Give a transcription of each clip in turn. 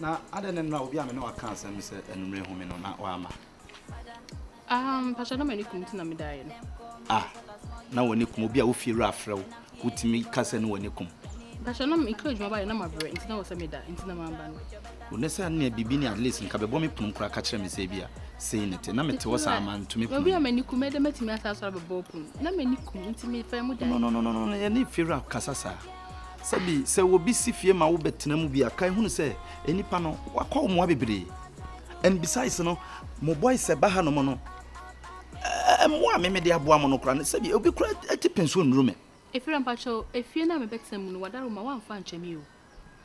Na adɛn ne nnora obi a me ne waka asɛm no sɛ anwummere home no na wamma? Ah, mpakyɛ na m'ani kum ti na medaeɛ no. Ah, na w'ani kum obi a wo fiewura afrɛ wo, wotumi ka sɛ ne w'ani kum. Mpakyɛ na mekɔ adwuma baeɛ na mabrɛ nti na wɔ sɛ meda nti na mamma no. O ne sɛ nea biribi ni at least nka bɛbɔ me pono koraa ka kyerɛ me sɛ ebia sei ne te na mete hɔ saa mantumi pono. Obi a m'ani kum ɛdɛ mɛtumi asa asɔre abɛbɔ pono na m'ani kum nti mefɛn mu daeɛ. No no no no no yɛne fiewura kasa saa. Sɛbi sɛ obi si fie ma wo bɛtena mu bi a, kae hunu sɛ nnipa no wakɔ mmoa bebree. And besides no, mo boys sɛ ba hanom no, mmoa a meme de aboa mo no koraa no, sɛbi obi koraa ti penso nnuru me. Efira, mpakyɛw, efie no a mebɛtena mu no, w'adawuruma woamfa ankyɛ me o.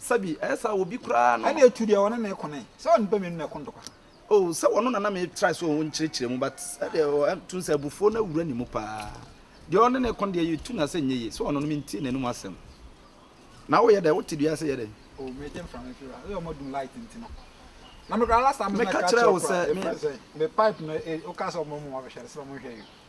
Sɛ bi, ɛyɛ saa wɔ bi koraa no. Ɛnneɛ tu deɛ ɔne no reko no ɛ. Sɛ ɔne pɛ mmienu na ɛko ntɔkwa. Oh, sɛ ɔno na na me try sɛ ɔnkyerɛkyerɛ mu but ɛdeɛ ɔ, ɛm, tu sɛ abufuo no awura ne mu paa. Deɛ ɔne no reko no deɛ yɛtu no asɛ nyɛ yie. Sɛ ɔno no mentie n'anom asɛm. Na woyɛ dɛn? Wote dua ase yɛ dɛn? Oh, meregye mframa afiri hɔ. Woyɛ wɔadum light nti no. Na me koraa last time no meka kyerɛɛ wo koraa, mefrɛ sɛn? Me pipe no, e, wokaa sɛ wɔmmɔ mu wɔnhwɛ no, sɛ wɔnhwɛ yɛ.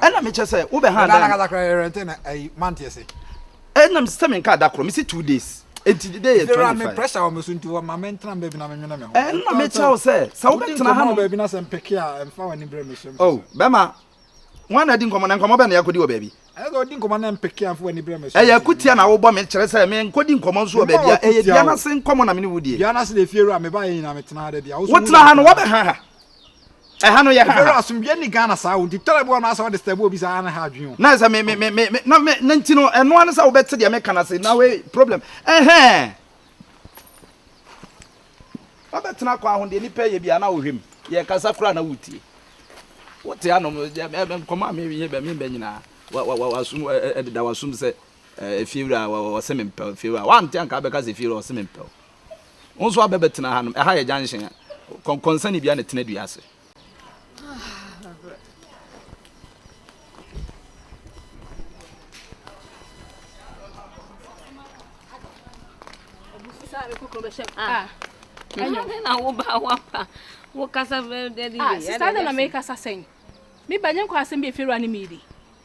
ɛna mekyɛ sɛ wobɛ ha dan ɛnam sɛ menka da korɔ mese two days ɛnti de dɛ yɛ 25 pressure wɔ me so nti wɔma mentena baabi na menwene me ho ɛna mekyɛ wo sɛ sɛ wobɛtena ha no baabi na sɛ mpeke a ɛmfa w'ani berɛ me so oh bɛma wọn na di nkɔmɔ na nkɔmɔ bɛ na yakɔdi wɔ baabi. ɛyɛ ɔdi nkɔmɔ na mpeke afo wɔ ne brɛ mi so. ɛyɛ kutia na awobɔ mi kyerɛ sɛ mi nkɔdi nkɔmɔ nso wɔ baabi a ɛyɛ dua n'ase nkɔmɔ na mi ni wudie. dua n'ase na efie wura mi ba yɛ nyina mi tena ha dɛ bi a. wotena ha no wɔbɛ ha ha. Ɛha no yɛ ha ha. Ɛbɛrɛ asomdwie ni Ghana saa o nti tɛrɛ bi wɔ no asɛ ɔde stɛbu obi saa na ha adwene o. Na sɛ me me me me na me na nti no ɛno ano sɛ wobɛte deɛ meka no ase na wei problem ɛhɛn wabɛtena kwan ho deɛ nipa yɛ bia na wohwɛ mu yɛ kasa kora na wotie wote anom nkɔmɔ a meyɛ bɛ mebɛ nyinaa wasum ɛdeda wasum sɛ efiewura wɔse mempɛw efiewura wante anka bɛka sɛ efiewura wɔse mempɛw Wo nso abɛ bɛtena ha nom. Ɛha yɛ junction. Kɔnkɔnsani bia na tena dua ase. Ah. Ɛnyɛ na wo ba wa pa. Wo kasa bɛ dɛ di. Ah, sista na me kasa sɛn. Me ba nyɛ nkɔ asɛm bi efiri ani mi di.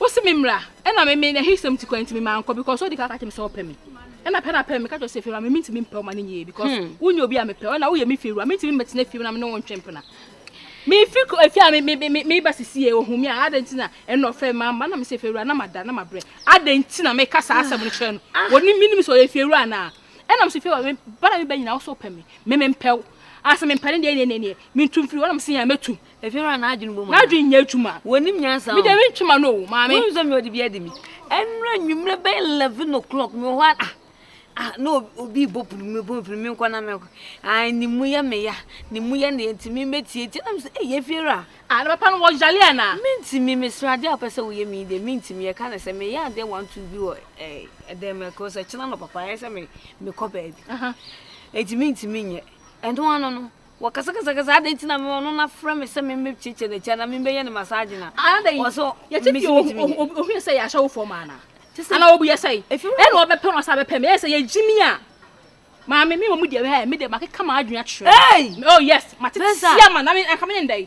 Ose me mmra ɛna me me n'ahisɛm nti koraa nti me mankɔ because odi kan ka kyerɛ me sɛ ɔpɛ me ɛna pɛ na pɛ me meka kyerɛ no sɛ fie wura me mentumi mpɛ wo ma no nyɛ yie because hmm. wonyɛ obi a mepɛ wo ɛna woyɛ me fie wura mentumi mmɛtena fie mu na me ne wo ntwe mpena mefi efie a me me me me ba sisi yɛ ohun mi a adɛn ti na ɛna ɔfrɛ me ama na me sɛ fie wura na ma da na ma brɛ adɛn ti na meka saa asɛm no kyerɛ no ah. wɔne menim sɛ ɔyɛ fie wura anaa ɛna me sɛ fie wura me ba na me ba nyina wo sɛ ɔpɛ me me mempɛ wo asɛ mempɛ ne deɛ neɛ neɛ neɛ mentum firi hɔ na me sɛ yɛ a mɛtum Efie hɔ a n'adwene bom a. N'adwene nyɛ adwuma. Wɔnim nyansa o. Me deɛ mentwe m'ano o, maame. Wonim sɛ me ɔde bi adi me. Ɛnura nwummerɛ bɛyɛ eleven o'clock me wɔ hɔ a ah na obi bɔ pono mu bɔ mfiri menkɔ na mɛkɔ ah ne mu yɛ me ya ne mu yɛ ne nti me mɛtie tie na me sɛ ɛyɛ eh, fie ra ah na papa no wɔyale anaa mentimi mesra adeɛ a wopɛ sɛ woyɛ me deɛ mentimi yɛka ne sɛ meyɛ adeɛ one two bi wɔ eh, ɛdɛn mɛkɔ sɛ kyena no papa ɛyɛ sɛ mekɔ baabi ɛnti mentimi nyɛ ɛno ano no Wɔkasakasakasa, adɛn nti na me ɔno na frɛ me sɛ memmɛkyiakyia n'akyi anaa memmɛyɛ no massage no a? Anadɛ yi, Ɔsɛ yɛte fie ɔhu ɔhu ɔhu ɔhu yɛ sɛ yɛahyɛ wo fam anaa? Te sɛ Anaa obu yɛ sɛe? ɛfiri wo Ɛna ɔbɛpɛ no ɔsan bɛpɛ me ɛyɛ sɛ yɛgye me a Maame me mmom deɛ ɛɛ me deɛ makeka m'adwene akyerɛ wo Hey! me oh yes mate Spencer! tia ma na me anka me ne ndɛn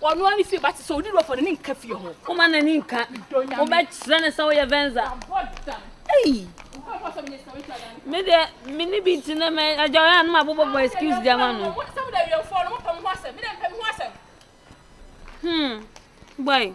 Ɔno ara ne fie ba te sɛ ɔdi dɔfo no ne nka fie ho. Woma n'ani nka. Wobɛkyerɛ no sɛ woyɛ Venza. Ei! Me deɛ me ne bi nti na mɛ agya ɔyɛ a na mabobɔbɔ excuse de ama no. Hmm. Boy.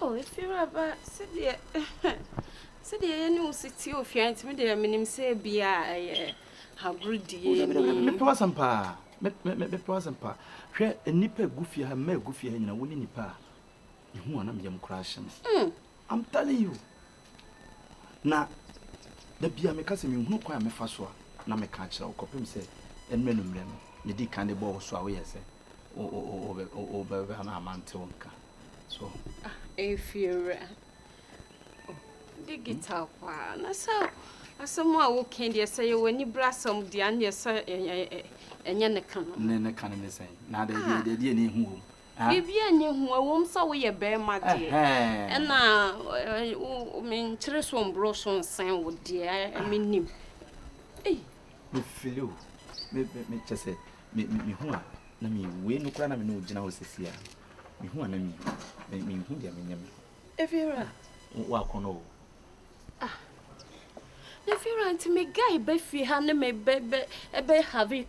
Oh Efiewuraba, sɛdeɛ sɛdeɛ yɛne wo si tie ofie nti me deɛ menim sɛ bia ɛyɛ agorudie oh, ni. Mepɛ w'asɛm paa, mepɛ w'asɛm paa. Hwɛ nnipa egu fie ha, mma egu fie ha nyina, wo ne nipa a mehu anam yam koraa hyɛ me. Hmm. I'm telling you. Na da biara meka sɛ, Menhunu kwan a mɛfa so a, na meka akyerɛ wo, kɔpem sɛ ɛnnɛ anwummerɛ no, medii kan de bɔɔ wo so a woyɛɛ sɛ wobɛba na mante wo nka. So wohu? Efiewura, Oh, digital paa. Na sɛ asɛm a woka deɛ, sɛ yɛwɔ anibrasɛm deɛ a, ɛnneɛ sɛ ɛnyɛ ne ka no. Ne ka no ne sɛn? Na deɛ ɛdeɛ ɛdeɛ ɛdeɛ na ehu wɔ mu. Biribiara nni ho, ɛwom sɛ woyɛ barima deɛ, ɛna menkyere so mborɔ so nsen wo deɛ, mennim. Mefili o, kyɛ sɛ mehu a na mewu, wei no koraa na me ne wo gyina hɔ sɛsi a, mehu a na mewu, menhu deɛ menyɛ me ho. Efiewura. Woakɔnɔ o. Ah. Efiewura nti me guy bɛ fie ha ne me bɛ bɛ ɛbɛ have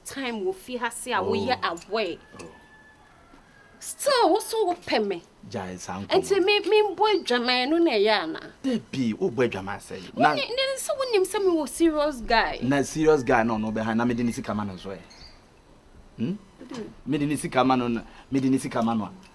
time wɔ fie ha se a woyɛ oh. aware still wo so wopɛ me gyae saa nkɔmɔ nti me membɔ adwaman no na ɛyɛ ana dabi wobɔ adwaman sɛ na ne sɛ wonim sɛ mewɔ serious guy na serious guy na ɔno bɛha na mede ne sika ma no nso ɛ hmm? mede ne sika ma no mede ne sika ma no a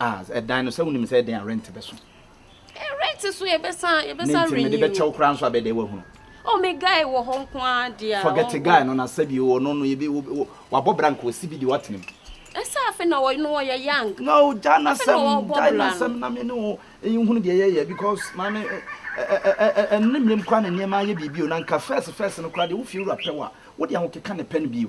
Ah, ɛdan no sɛ wonim sɛ ɛdɛn a rent bɛso. Eh, rent so yɛbɛsa yɛbɛsa renew. Ne nti mede bɛkyɛw koraa nso abɛdɛ wahunu. Oh, me guy wɔ hɔ nko ara deɛ. Forget guy no na sɛbi wɔ no no yɛbi wabɔ bra nka ɔsi bi deɛ watena mu. Ɛsɛ afe na wɔyɛ no wɔyɛ young. No, gya na sɛm gya na sɛm na me ne wo nhunu deɛ yɛyɛ because maame ɛnne mmiem kwan na nneɛma ayɛ biribi o na nka first first no koraa deɛ wo fie wura pɛ wa wo deɛ ahokeka ne pɛ no bio.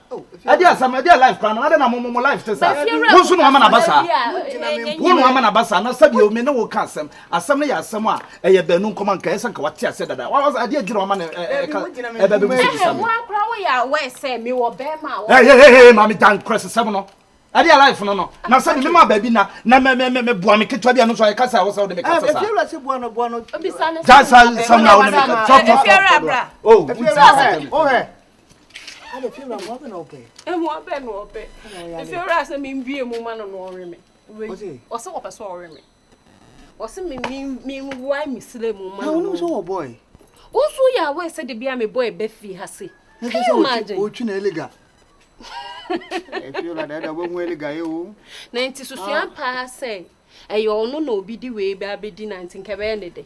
ɛde asɛm ɛde life kora no adɛ na momo mo life te saa wo nso na wama no aba saa wo na wama no aba saa na sɛdeɛ me ne wo ka asɛm asɛm no yɛ asɛm a ɛyɛ baanu nkɔma nka ɛsɛ nka wate aseɛ dada adeɛ adwiri wama no ɛbɛbi mu sɛ bisa me maame gya nkorɛsesɛm no ɛde yɛ life no no na sɛ ne mema baabi na na meboa me ketewa bi a no so ɛka sɛ a wo sɛ wode meka sɛ saa gya sa sɛm na wo ne meka tɔtɔtɔtɔ Adefie wura mmoa bɛ na ɔpɛ. Mmoa bɛ na ɔpɛ. Efie wura sɛ mi mbie mu ma no na ɔwe me. Wei ɔsɛ ɔpɛ sɛ ɔwe me. Ɔsɛ mi mi mi wae mi srɛ mu ma no. Na wɔn nso wɔ bɔɔl. Wɔn nso yɛ awɛ sɛ de bi a mi bɔɔl bɛ fi ha se. Can you imagine? Otwi na eliga. Efie wura dɛ dɛ ɔbɛhu eliga yi o. Na nti susua paa sɛ ɛyɛ ɔno na obi di wei bɛ abɛdi na nti nkɛbɛyɛ ne dɛ.